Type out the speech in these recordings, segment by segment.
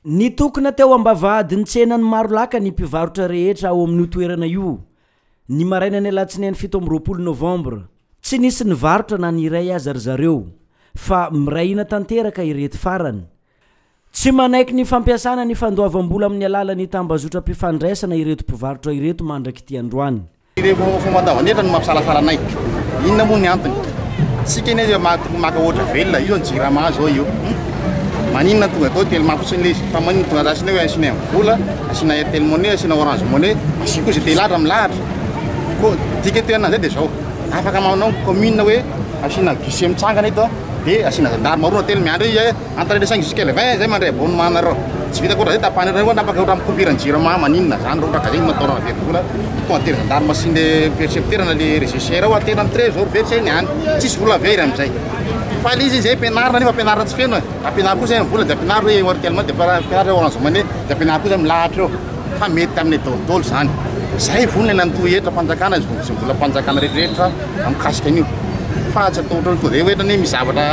Nitokona teo ambavahadin'ny tsenan'i Marolaka ny mpivarotra rehetra ao amin'io toerana io, ny marainan'ny alatsinainy fito amby roapolo novambra. Tsy nisy nivarotra na ny iray aza ry zareo, fa miray hina tanteraka ireto farany, Tsy manaiky ny fampiasana ny fandoavam-bola amin'ny alalan'ny tambazotram-pifandraisana ireto mpivarotra ireto mandrak'ity androany. Ireo fomba an-davan'efitra no mampisalasala anay. Inona moa ny antony? Isika anie dia maty maka ohatra velona, io ny jirama izao io. Maninona no tonga atao telma fotsiny ilay izy? Fa maninona no tonga asiana hoe asiana M-vola, asiana Airtel Money, asiana Orange Money, asio koa izay te hilahatra milahatra. Koa dika toerana an'izay dia izao, afaka manao commune hoe asiana guichet mitsangana eto. dia asiana zandary maroana telo miandry izy hoe entre les cinq jusqu'à le vingt zay mandray abonnement anareo tsy vitako ohatrany zay tapahany reo na afaka ohatrany coupiran jirama maninona zany reo kaka zegny no ataonao very vola tonga dia ry zandary masin le percepteur na le réseau cher ao atena am trésor very zay ny any tsisy vola very amizay fa le izy izy zay ampianarina nefa ampianarina tsy feno e ampianaro koa zay ny vola dia ampianaro hoe airtel money dia ampianaro orange money dia ampianaro koa zay milahatra eo fa mety aminy daholo daholo zany zay vonona nandoa hetra fanjakana zay vola fanjakana rehetra rehetra Raha mikasika an'io fa tsy atao ohatran'ny tonga dia hoe ohatran'ny hoe misy zavatra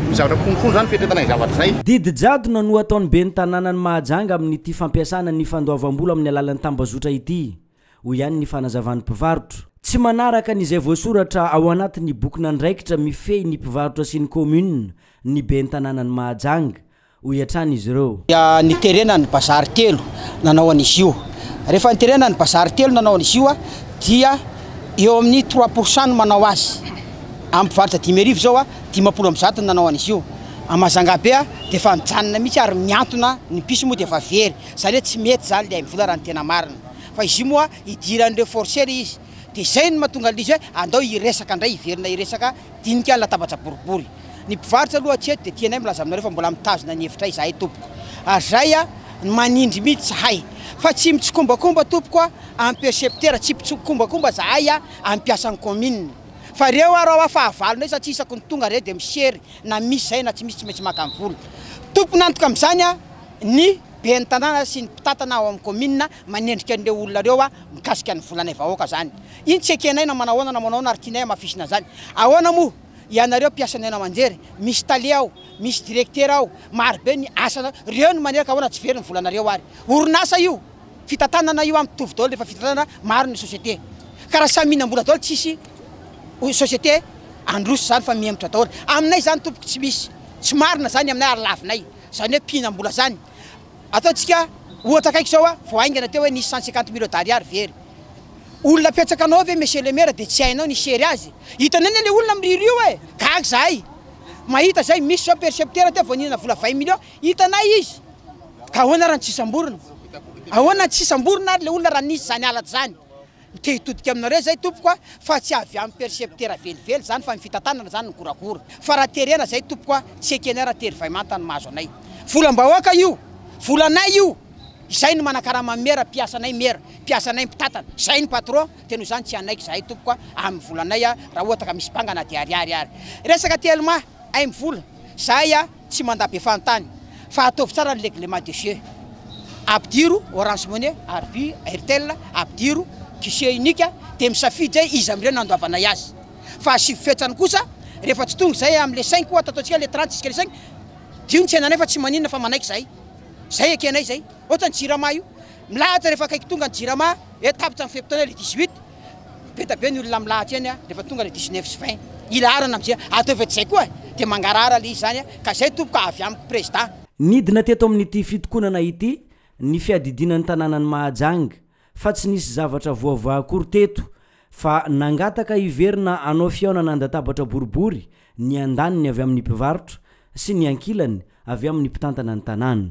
misy zavatra konokono izany fiatrehitana izay zavatra izay. Didijadona no ataon'ny ben'ny tanànan'i Mahajanga amin'ity fampiasana ny fandoavam-bola amin'ny alalan'ny tambazotra ity, hoy ihany ny fanazavan'ny mpivarotra. Tsy manaraka ny izay voasoratra ao anatin'ny bokin'andraikitra mifehy ny mpivarotra sy ny kaominina ny ben'ny tanànan'i Mahajanga, hoy hatrany izy ireo. dia niterena ny bazary telo nanao an'izy io, rehefa niterena ny bazary telo nanao an'izy io dia eo amin'ny trois pour cent no manao azy, amin'ny mpivarotra dimy arivo izao dimampolo amby zato no nanao an'izy io, à Majanga be dia efa nijanona mihitsy ary mihantona, ny bus moa dia efa very, izany hoe tsy mety izany ilay hain'ny vola raha ny tena marina, fa izy io moa hidiran'ireo forceurs izy, dia izay no mahatonga an'izy hoe andao hiresaka indray hiverina hiresaka Dinika ny latabatra boribory. Ny mpivarotra aloha aty eto dia tianay milaza aminareo fa mbola mitazona ny efitray izahay tompoko. Ary izay a, ny manindry mihitsy izahay. Fa tsy mitsikombakomba tompoko a, amin'ny percepteur tsy mpitsikombakomba izahay a, amin'ny mpiasan'ny kaominina. Fa reo ary hoa fahavalo ndray satria isaky ny tonga reo dia misery na misy izay na tsy misy tsy maintsy maka ny vola. Tompon'antoka amin'izany a, ny ben'ny tanàna sy ny mpitantana ao amin'ny kaominina manendrika an'ireo olona ireo mikasika ny volanay vahoaka zany iny tsy ekenay na manao ahoana na manao ahoana ary tianay hamafisina an'izany ahoana moa ianareo mpiasan'ny haino aman-jery misy tale ao misy directeur ao maro be ny asa reo ny manerika ahoana tsy very ny volanareo ary orinasa io fitantanana io ampy tovy daholo rehefa fitantanana maro ny société ka raha samy mihinam-bola daholo tsisy société androso zany fa mihemotra daholo aminay zany tompoko tsy misy tsy marina zany aminay ary lavinay zany hoe mpihinam-bola zany Ataontsika ohatra akaiky izao a, vao haingana teo hoe nisy cent cinquante mille Dari ary very. Olona apetsaka anao ve monsieur le maire dia tsy hainao ny hisery azy? Hitanay anie le olona miriry io e! Gaga izahay mahita izay, misy izao percepteur teo vao nihinana vola vingt millions, hitanay izy. Ka ahoana ary no tsy samborina? Ahoana no tsy samborina ary le olona raha nisy izany halatra izany? Te hitodika aminareo izay tompoko a, fa tsy avy amin'ny percepteur velively izany fa ny fitantanana izany no goragora. Fa raha terena izay tompoko a, tsy ekenay raha tery vay manta no mahazo anay. Volam-bahoaka io, volanay io, izay no manakarama ny mera, mpiasanay mera, mpiasanay mpitantana, izay ny patron, dia noho izany tsy hanaiky izahay tompoko a, amin'ny volanay a, raha ohatra ka misy banga na dia ariary ary. Resaka telma, aim-vola, izahay a. Tsy mandà be fanontany fa ataovy tsara ny règlement de jeu. Ampidiro Orange Money, Arvi, Airtel, ampidiro guichet unique dia misafidy hoe iza amin'ireo no andoavanay azy. Fahasivy fetrany kosa, rehefa tsy tonga izay amin'ilay cinq ohatra ataontsika ilay trente jusqu'à le cinq, dio ny tsenanay fa tsy maninona fa manaiky izahay. Izay ekenay izay. Ohatra ny Jirama io, milahatra rehefa akaiky tonga ny Jirama hoe tapitra ny fe-potoana ilay dix-huit. Beta be ny olona milahatra eny rehefa tonga le dix neuf sy vingt hilaharana amzay ataovy ety zay koa de mangarahara le izy zany a ka zay tompoko a avy amiko prezda. Nidina teto amin'ity fitokonana ity ny fiadidiana ny tanànan'i Mahajanga fa tsy nisy zavatra voavaha akory teto fa nangataka hiverina hanao fihaonana an-databatra boribory ny andaniny avy amin'ny mpivarotra sy ny ankilany avy amin'ny mpitantana ny tanàna.